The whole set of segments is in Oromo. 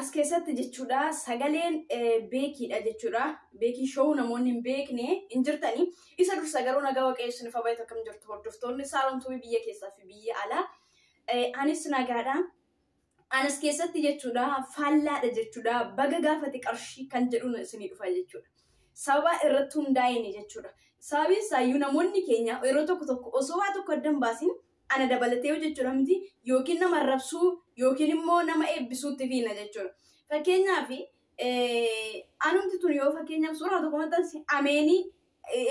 As keessatti jechuudha sagaleen beekiidha jechuudha. Beekii showuu namoonni hin beekne hin jirtani. Isa dursa garuu nagaa waaqayyo isiniif haa baay'atu akkam jirtu hordoftoonni saalomtuu biyya keessaa fi biyya alaa. Anis nagaadha. Anas keessatti jechuudha faallaadha jechuudha baga gaafate qarshii kan jedhuun isinii dhufa jechuudha. Sababa irratti hundaa'een jechuudha. Sababiin isaayyuu namoonni keenya yeroo tokko tokko osoo waa tokko addan baasin ana dabalatee hojjechuudha miti yookiin nama arrabsuu yookiin immoo nama eebbisuutti fiina jechuudha. Fakkeenyaaf anumti tun yoo fakkeenyaaf suuraa tokko maxxanse ameenii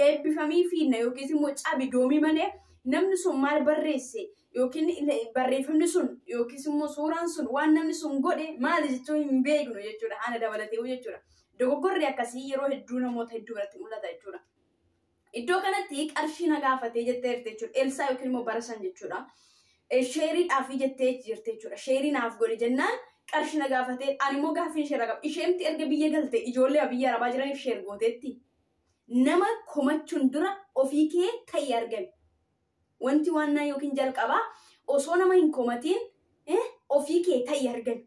eebbifamii fiina yookiis immoo cabi doomii malee namni sun maal barreesse yookiin barreeffamni sun yookiis immoo suuraan sun waan namni sun godhe maali jechuu hin beeknu jechuudha ana dabalatee jechuudha. Dogoggorri akkasii yeroo hedduu namoota hedduu biratti mul'ata jechuudha. Iddoo kanatti qarshii na gaafatee jettee jirti jechuudha. Elsaa yookiin immoo bara san jechuudha. Sheeriidhaaf jettee jirti jechuudha. Sheerii naaf godhi jennaan qarshii na gaafatee ani immoo gaaffii ishee irraa qaba. Isheentti erga biyya galte ijoollee biyya arabaa jiraniif sheer gooteetti. Nama komachuun dura ofii kee ta'ii argami. Wanti waannaa yookiin jalqabaa osoo nama hin komatiin eh, ofii kee ta'i argan.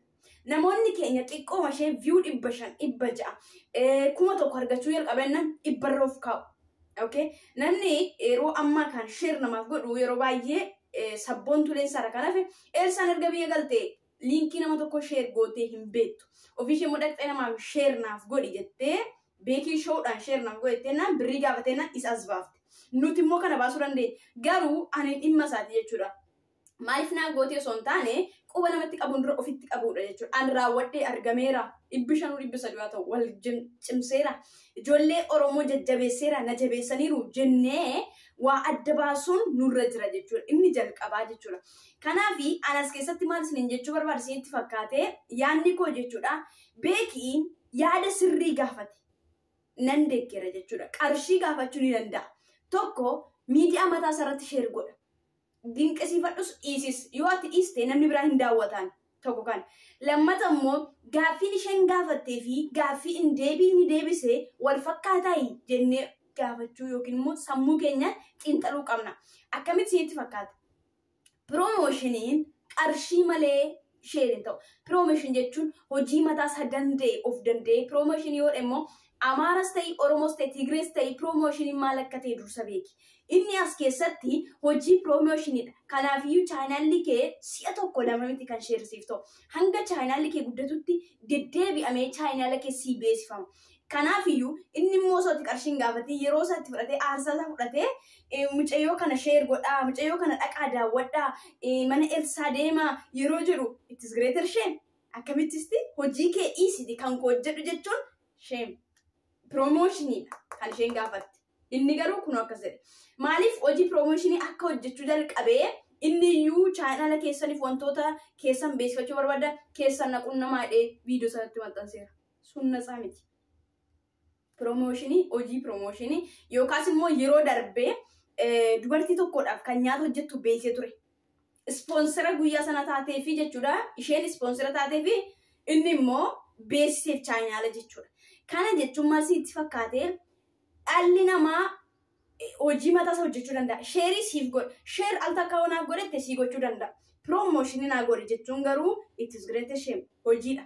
Namoonni keenya xiqqooma ishee view dhibba shan, dhibba ja'a, eh, kuma tokko argachuu jalqabannan dhibbarra of kaa'u. Okay? Namni yeroo ammaa kan share namaaf godhu yeroo baay'ee eh, sabboontuleen isaarra kan hafe Elsaan erga biyya galte liinkii nama tokko sheer gootee hin beektu. Ofii ishee immoo dhaqxee namaaf sheer naaf godhi jettee beekii showdhaan sheer naaf godhi jettee naan birrii gaafatee naan isa as baafte. Nuti immoo kana baasuu dandeenya. Garuu ani dhimma isaati jechuudha. Maaliif naa gootee osoo hin taane quba namatti qabuun dura ofitti qabuudha jechuudha. An raawwadhee argameera. Dhibbi shanuu dhibbi sadii haa ta'u wal jim- cimseera. Ijoollee Oromoo jajjabeesseera na jabeessaniiru jennee waa adda baasuun nurra jira jechuudha. Inni jalqabaa jechuudha. Kanaaf an as keessatti maal isiniin jechuu barbaada isinitti fakkaate yaadni koo jechuudha beekiin yaada sirrii gaafate nan deeggera jechuudha qarshii gaafachuu ni danda'a tokko miidiyaa mataa isaarratti sheer godha dinqisiifadhus dhiisis yoo ati dhiiste namni biraa hin daawwataan tokko kan lammata immoo gaaffiin isheen gaafattee fi gaaffii in deebii inni deebise wal fakkaataayi jennee gaafachuu yookiin immoo sammuu keenya xiinxaluu qabna akkamitti isinitti fakkaata Piroomoshiniin qarshii malee share hin ta'u. Piroomotion jechuun hojii mataa isaa danda'e of danda'ee piroomotion yoo immoo Amaaras ta'ii Oromoos ta'e Tigrees ta'ii piroomoshiniin maal akka ta'e dursa beeki. Inni as keessatti hojii piroomoshiniidha. Kanaafiyyuu chaanaalli kee si'a tokko lama miti kan share siif ta'u. Hanga chaanaalli kee guddatutti deddeebi'amee chaanaala kee sii beeksifama. Kanaafiyyuu inni immoo osoo itti qarshii hin gaafatiin yeroo isaa itti fudhatee aarsaa isaa fudhatee eh, mucayyoo kana sheer godhaa, mucayyoo kana dhaqaa daawwadhaa, eh, mana Elsaa deemaa yeroo jedhu it is greater shame. Akkamittisti hojii kee dhiisiti kan koo hojjedhu jechuun shame. Piroomooshinidha kan isheen gaafatte. Inni garuu kunoo akkas jedhe. Maaliif hojii piroomooshinii akka hojjechuu jalqabee inni iyyuu chaayinaala keessaniif wantoota keessan beeksifachuu barbaada keessan naquun namaa jedhee viidiyoo sanatti maxxanseera. sun natsaa miti. Piroomooshinii, hojii piroomooshinii yookaas immoo yeroo darbee eh, dubartii tokkodhaaf kan nyaata hojjettu beeksee ture. Ispoonsera guyyaa sana taateefi jechuudha. Isheen ispoonsera taateefi inni immoo beeksiseef chaayinaala jechuudha. Kana jechuun maal sitti fakkaatee dhalli namaa eh, hojii mataa isaa hojjechuu danda'a. Sheerii siif godha. Sheer al takka waan naaf godhette sii gochuu danda'a. Piroomooshinii naa godhe jechuun garuu it is great shame hojiidha.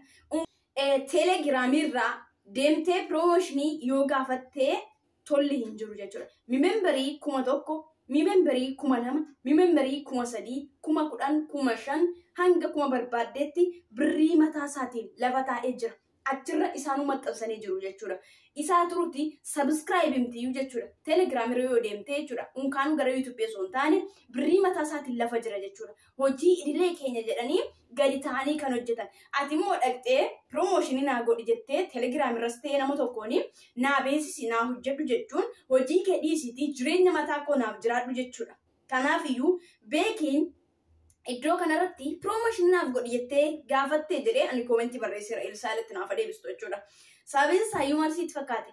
Telegram irraa deemtee promotionii yoo gaafattee tolli hin jiru jechuudha. Mimemberii kuma tokko, mimemberii kuma lama, mimemberii kuma sadii, kuma kudhan, kuma shan hanga kuma barbaaddeetti birrii mataa isaatiin lafa taa'ee jira. Achirra isaanuu maxxansanii jiru jechuudha. Isaa turutti subscribe himtiyyuu jechuudha. Telegram irra yoo deemtee jechuudha. Unkaanuu gara YouTube osoo hin taane birrii mataa isaatiin lafa jira jechuudha. hojii idilee keenya jedhanii gadi ta'anii kan hojjetan. Ati immoo dhaqxee piroomooshinii naa godhi jettee telegiraam irras ta'ee nama tokkoon naa beeksisi naa hojjedhu jechuun hojii kee dhiisiitii jireenya mataa koo naaf jiraadhu jechuudha. Kanaaf iyyuu beekiin iddoo kanarratti piroomooshinii naaf godhi jettee gaafattee jedhee ani koomentii barreesseera Elsaa'iletti naaf adeebistu jechuudha. Sababiin isaa iyyuu maal sitti fakkaate?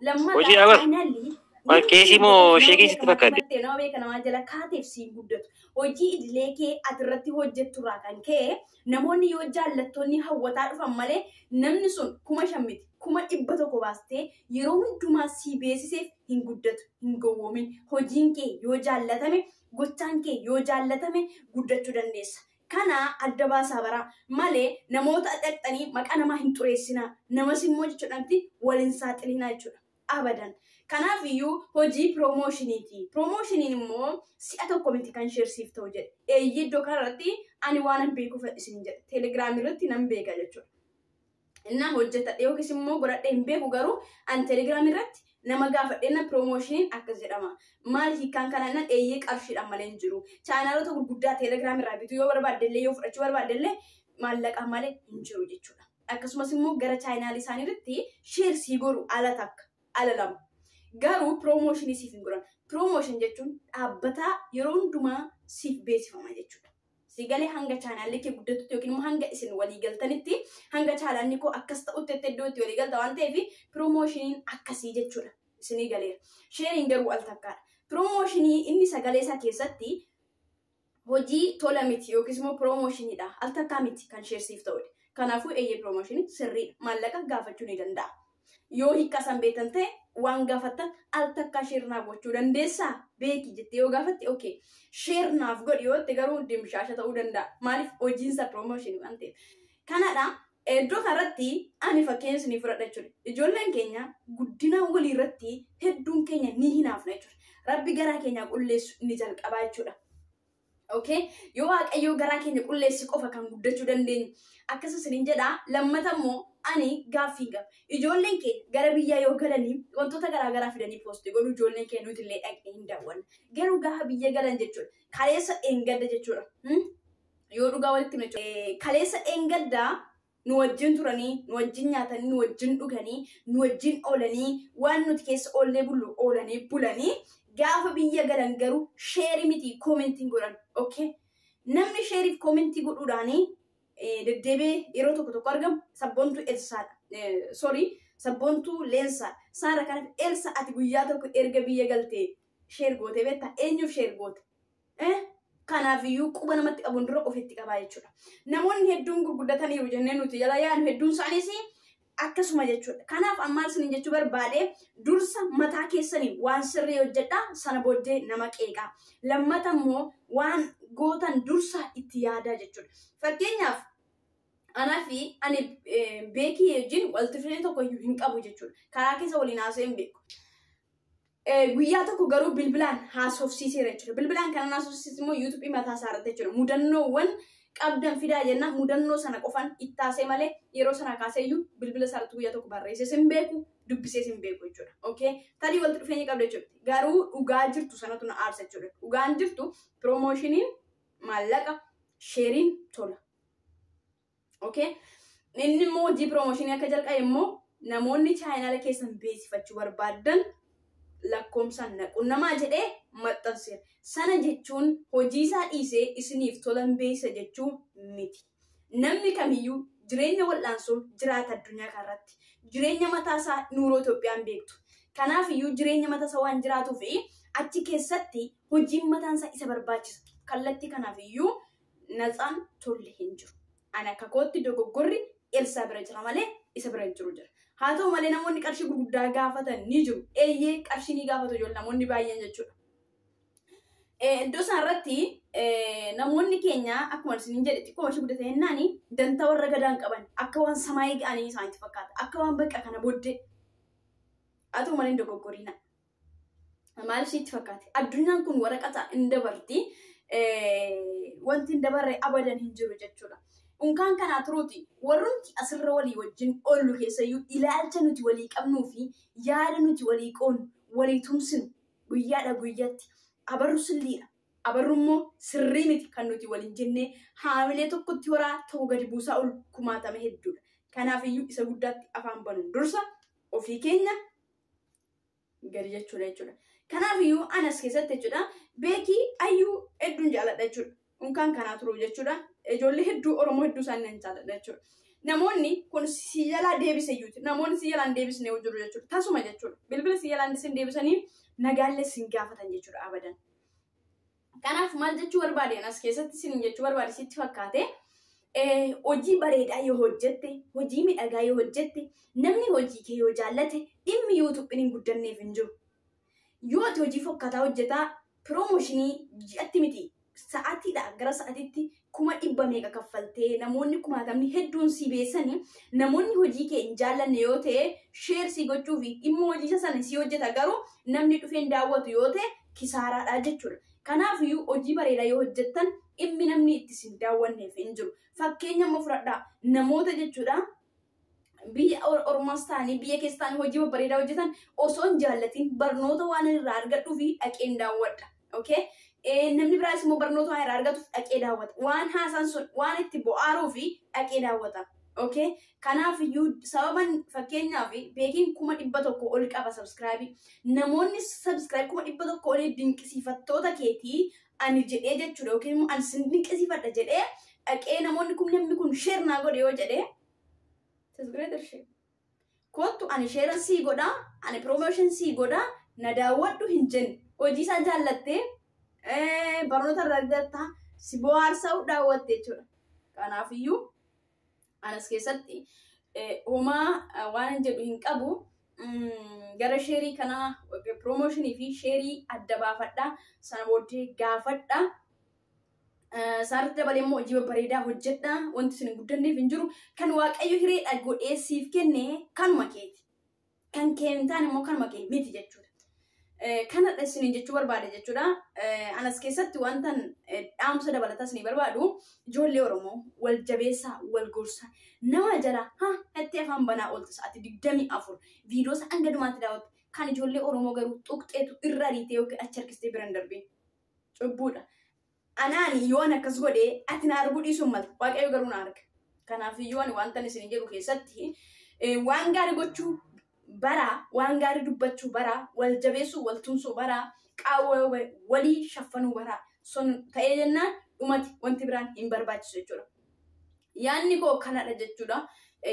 Hojii lammataa abar. faayinaalli Maal yeroo keesii isiin moo beekee nama sheekii sitti beekamaa fakkaate? taphattee nama beekamaa jala kaateef siin guddatu hojii idilee kee ati irratti hojjettu irraa kan ka'e namoonni yoo jaallattoonni hawwataa dhufan malee namni sun kuma shan miti kuma dhibba tokko baastee yeroo hundumaa sii beesiseef hin guddatu hin gowwoomin hojiin kee yoo jaallatame gochaan kee yoo jaallatame guddachuu dandeessa Kana adda baasaa bara male namoota dhaqxanii maqaa namaa hin xureessinaa, namas immoo jechuudhanti wal hin saaxilinaa jechuudha. Abadan. Kanaaf iyyuu hojii piroomoshiniiti. Piroomoshiniin immoo si'a tokko miti kan sheer siif ta'u jedhe. Eeyyee iddoo kanarratti ani waanan beekuuf isiniin jedhe. Teelegiraamii irratti nan beeka jechuudha. Innaa hojjetadhe yookiis immoo godhadhe hin beeku garuu an telegiraamii irratti nama gaafadhe na piroomoshiniin akkas jedhama. Maal hiikkaan kanaa nan eeyyee qarshiidhaan malee hin jiru. Chaanaalota gurguddaa telegiraamii irraa bituu yoo barbaadde illee yoo fudhachuu barbaadde illee maallaqaan malee hin jiru jechuudha. Akkasumas immoo gara chaayinaalii isaanii irratti sheer sii godhu ala takka ala lama. Garuu piroomoshinii siif hin godhan. Piroomoshin jechuun dhaabbataa yeroo hundumaa siif beeksifama jechuudha. si galee hanga chaanaalli kee guddatutti yookiin immoo hanga isin walii galtanitti hanga chaanaalli koo akkas ta'utti itti iddoo itti walii galta waan ta'eef piroomooshiiniin akkasii jechuudha isinii galeera. Sheeriin garuu al takkaadha. Piroomooshinii inni sagalee isaa keessatti hojii tola miti yookiis immoo piroomooshinidha al takkaa miti kan sheersiif ta'udha. Kanaafuu eeyyee piroomooshinii sirriidha maallaqa gaafachuu ni danda'a. Yoo hiikkaa san beektan ta'e waan gaafattan al takkaa sheer naa gochuu dandeessaa beeki jettee yoo gaafatte okay sheer naaf godhi yoo jette garuu dimshaasha ta'uu danda'a maaliif hojiin isaa promotion waan ta'eef kanadha iddoo kanarratti ani fakkeenya isinii fudhadha jechuudha ijoolleen keenya guddina walii irratti hedduun keenya ni hinaafna jechuudha rabbi garaa keenya qulleessu ni jalqabaa jechuudha. Okay? Yoo Waaqayyoo garaa keenya qulleessi qofa kan guddachuu dandeenyu. Akkasuma isiniin jedha lammata immoo ani gaaffii hin qabu. Ijoolleen keenya gara biyyaa yoo galanii wantoota garaa garaa fidanii poosti godhu ijoolleen keenya nuti illee dhaqnee hin daawwanna. Garuu gaafa biyya galan jechuudha. Kaleessa dheengadda jechuudha. Hmm? Yoo dhugaa walitti himne jechuudha. Eh, Kaleessa dheengadda nu wajjin turanii, nu wajjin nyaatanii, nu wajjin dhuganii, nu wajjin oolanii, waan nuti keessa oollee bullu oolanii bulanii gaafa biyya galan garuu sheerii miti koomentiin godhan. Okay? Namni sheeriif koomentii godhuudhaanii eh, deddeebi'ee yeroo tokko tokko argamu sabboontuu Elsaadha. Eh, Sorry, sabboontuu Leensaadha. Saara kanaaf Elsa ati guyyaa tokko erga biyya galtee sheer gootee beektaa? Eenyuuf sheer goote? Eh, Kanaafiyyuu quba namatti qabuun dura ofitti qabaa jechuudha. Namoonni hedduun gurguddataniiru jennee nuti jala yaanu hedduun isaaniis akkasuma jechuudha. Kanaaf ammaan isin jechuu barbaade dursa mataa keessanii waan sirrii hojjedhaa sana booddee nama qeeqaa. Lammata immoo waan gootan dursa itti yaadaa jechuudha. Fakkeenyaaf anaa fi ani eh, beekii wajjin walitti dhufeenya tokko iyyuu hin qabu jechuudha. Karaa keessa waliin haasa'ee hin beeku. Eh, guyyaa tokko garuu bilbilaan haasofsiiseera jechuudha. Bilbilaan kanan haasofsiise immoo yuutuubii mataa isaa irratti jechuudha. Mudannoowwan qabdan fidaa jennaan mudannoo sana qofan ittaasee malee yeroo sana kaasee iyyuu bilbila isaa irratti guyyaa tokko barreessees hin beeku dubbisees hin beeku jechuudha. Okay? Tarii walitti dhufeenya qabda jechuudha. Garuu dhugaa jirtu sanatu na aarsa jechuudha. Dhugaan jirtu piroomoshiniin maallaqa sheeriin tola. Okay? Inni immoo hojii piroomooshinii akka jalqabe immoo namoonni chaayinaala keessan beeksifachuu barbaadan lakkoomsaan na qunnamaa jedhee maxxanseera. Sana jechuun hojii isaa dhiisee isiniif tolan beeksisa jechuu miti. Namni kamiyyuu jireenya wal'aansoo jiraata addunyaa kanarratti. Jireenya mataa isaa nuuroo Itoophiyaan beektu. Kanaaf iyyuu jireenya mataa isaa waan jiraatuu fi achi keessatti hojiin mataan isaa isa barbaachisa. Kallattii kanaaf iyyuu Natsaan tolle hin jiru. Ani akka kootti dogoggorri Elsaa bira jira malee isa bira hin jiru jedha. Haa ta'u malee namoonni qarshii gurguddaa gaafatan ni jiru. Eeyyee qarshii ni gaafatu ijoollee namoonni baay'een jechuudha. Eh, Iddoo isaan irratti eh, namoonni keenya akkuma isiniin jedhe xiqqoo ishee guddate jennaan dantaa warra gadaan qaban akka waan samaayii ga'anii isaanitti fakkaata. Akka waan bakka kana booddee haa ta'u malee hin dogoggoriina. Maaliif sitti fakkaate? Addunyaan kun waraqata hin dabarti. Wanti hin dabarre abadan hin jiru jechuudha. Unkaan kanaa turuuti warrumti asirra walii wajjin oollu keessayyuu ilaalcha nuti walii qabnuu fi yaada nuti walii qoonu walii tumsinu guyyaadha guyyatti abarru silliidha. Abarru immoo sirrii miti kan nuti waliin jennee haamilee tokkotti horaa tokko gadi buusaa ol kumaatame hedduudha. Kanaafiyyuu isa guddaatti afaan banuun dursa ofii keenya gadi jechuudha jechuudha. Kanaaf iyyuu an as keessatti jechuudha beekii ayyuu hedduun jaaladha jechuudha. Unkaan kanaa turuu jechuudha. Ijoollee hedduu Oromoo hedduu isaanii nan jaaladha jechuudha. Namoonni kun si jalaa deebise iyyuuti. Namoonni si jalaan deebisne yoo jiru jechuudha. Tasuma jechuudha. Bilbila si jalaan sin deebisanii nagaallee sin gaafatan jechuudha abadan. Kanaaf maal jechuu barbaade anas keessatti isiniin jechuu barbaade sitti fakkaate hojii bareedaa yoo hojjette hojii midhagaa yoo hojjette namni hojii kee yoo jaallate dhimmi yuutuubiin hin guddanneef hin jiru. Yoo ati hojii fokkataa hojjetaa piroomooshinii ji'atti miti sa'aatiidha gara sa'aatiitti kuma dhibba meeqa kaffaltee namoonni kumaatamni hedduun si beessanii namoonni hojii kee hin jaallanne yoo ta'e sheer si gochuu fi dhimma hojii isa sana si hojjeta garuu namni dhufeen daawwatu yoo ta'e kisaaraadha jechuudha. Kanaaf iyyuu hojii bareedaa yoo hojjettan dhimmi namni itti sin daawwanneef hin jiru. Fakkeenya amma fudhadhaa namoota jechuudha biyya ormaas ta'anii biyya keessa ta'anii hojii babbareedaa hojjetan osoo hin jaallatiin barnoota waan irraa argadhuu fi dhaqeen daawwadha. Okay? Namni biraas immoo barnoota waan irraa argatuuf dhaqee daawwata. Waan haasaan sun waan itti bu'aaruu fi dhaqee daawwata. Okay? Kanaaf iyyuu sababan fakkeenyaaf beekiin kuma dhibba tokko ol qaba sabskraabii. Namoonni sabskraabii kuma dhibba tokko olii dinqisiifattoota keetii ani jedhee jechuudha yookiin immoo ani sin dinqisiifadha jedhee dhaqee namoonni kun namni kun sheer naa godhe yoo jedhee tis greater shame. Kottu ani sheera sii godha, ani promotion sii godha, na daawwadhu hin jenne. Hojii isaa jaallattee eh, barnoota irraa argatta, si bohaarsaa daawwatte jechuudha. Kanaafiyyuu anas keessatti homaa waan jedhu hin qabu gara sheerii kanaa piroomooshinii fi sheerii adda baafadha sana booddee gaafadha isaarratti dabalee immoo hojii babbareedaa hojjedha wanti isin hin guddanneef hin jiru kan waaqayyo hireedha godhee siif kenne kanuma keeti kan kee hin taane immoo kanuma kee miti jechuudha. Kanadha isiniin jechuu barbaade jechuudha. Anas keessatti wantan dhaamsa dabalataa isinii barbaadu ijoollee Oromoo wal jabeessaa wal gorsaa nama jala ha itti afaan banaa oolta sa'aatii digdamii afur viidiyoo isaa hanga dhumaatti daawwatte kan ijoollee Oromoo garuu tuqxeetu irra ariitee yookiin achi harkistee bira hin darbiin. Cubbuudha. Anaan yoo ani akkas godhe, ati na arguu dhiisuu hin maltu, Waaqayyo garuu na arga. Kanaaf iyyuu ani wantan isin jedhu keessatti waan gaarii gochuu baraa, waan gaarii dubbachuu baraa, wal jabeessuu, wal tumsuu baraa, qaawwa walii shaffanuu baraa. Sun ta'ee jennaan dhumati wanti biraan hin barbaachisu jechuudha. Yaanni koo kanadha jechuudha.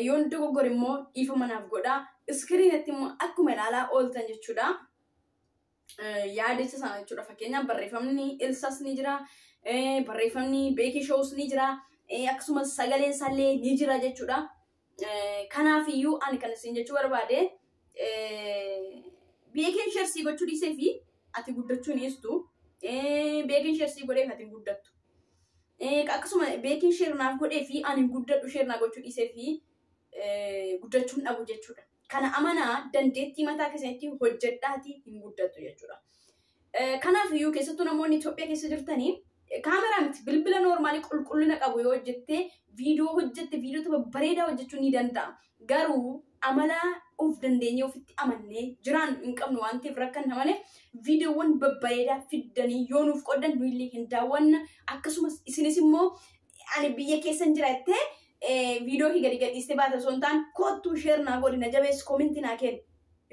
Yoon dogoggore immoo dhiifama naaf godhaa. Iskiriinatti immoo akkuma ilaalaa ooltan jechuudha. yaadicha sana jechuudha. Fakkeenyaaf barreeffamni ilsas ni jira, barreeffamni beekii shows ni jira, akkasumas sagaleen sallee ni jira jechuudha. Kanaaf iyyuu ani kan isin jechuu barbaade beekiin sheersii gochuu dhiisee fi ati guddachuu hin dhiistu. Beekiin sheersii godheef ati hin guddattu. Akkasuma beekiin sheer naaf godhee fi ani hin guddadhu sheer naa gochuu dhiisee fi guddachuu hin dhabu jechuudha. Kana amanaa dandeettii mataa keessanitti hojjedhaatii hin guddattu jechuudha. Kanaaf iyyuu keessattuu namoonni Itoophiyaa keessa jirtanii kaameraa miti bilbila noormaalii qulqullina qabu yoo hojjettee viidiyoo hojjette viidiyoo tokko bareedaa hojjechuu ni danda'a. Garuu amala of dandeenyee ofitti amannee jiraan hin qabnu waan ta'eef rakkanna malee viidiyoowwan babbareedaa fiddanii yoo nuuf qoddan nuyillee hin daawwanna akkasumas isinis immoo ani biyya keessan jira jettee eh, viidiyoo kee gadi gadhiistee baate osoo hin taane koottuu sheer naa godhi na jabeessi koominti naa kenni.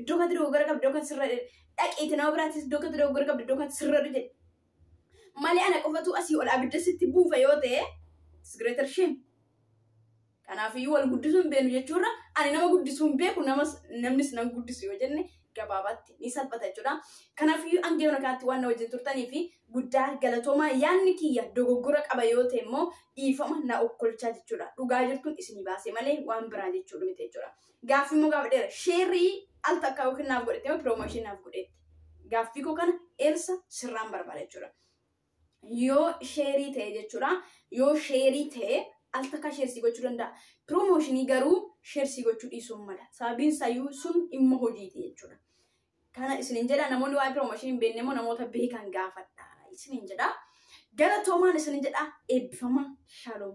Iddoo kanatti dogoggora qabdi iddoo kanatti sirra dhaqiiti nama biraattis iddoo kanatti dogoggora qabdi iddoo kanatti sirra jedhi. Malee ana qofatu asii ol abidda sitti buufa yoo ta'e it's greater shame. Kanaafiyyuu wal guddisuu hin beeknu jechuurra ani nama guddisuu hin beeku namas namnis nan guddisu yoo jenne gabaabaatti ni salphata jechuudha. Kanaafiyyuu hanga yoona kanatti waan na wajjin turtanii fi guddaa galatoomaa yaadni kiyya dogoggora qaba yoo ta'e immoo dhiifama na okkolchaa jechuudha. Dhugaa jirtuun isinii baasee malee waan biraa jechuudha miti jechuudha. Gaaffii immoo gaafa dheera sheerrii al takkaa yookiin naaf godhete yoo piroomooshinii naaf godheetti. Gaaffii koo kana eersa sirraan barbaada jechuudha. yoo sheerii ta'e jechuudha yoo sheerii ta'e al takka sheersii gochuu danda'a piroomooshinii garuu sheersii gochuu dhiisuu mala sababiin sayyuu sun dhimma hojiiti jechuudha kana isinin jedha namoonni waa'ee piroomooshinii hin beekne immoo namoota beekan gaafadha isinin jedha galatoomaan isinin jedha eebbifama shaaloom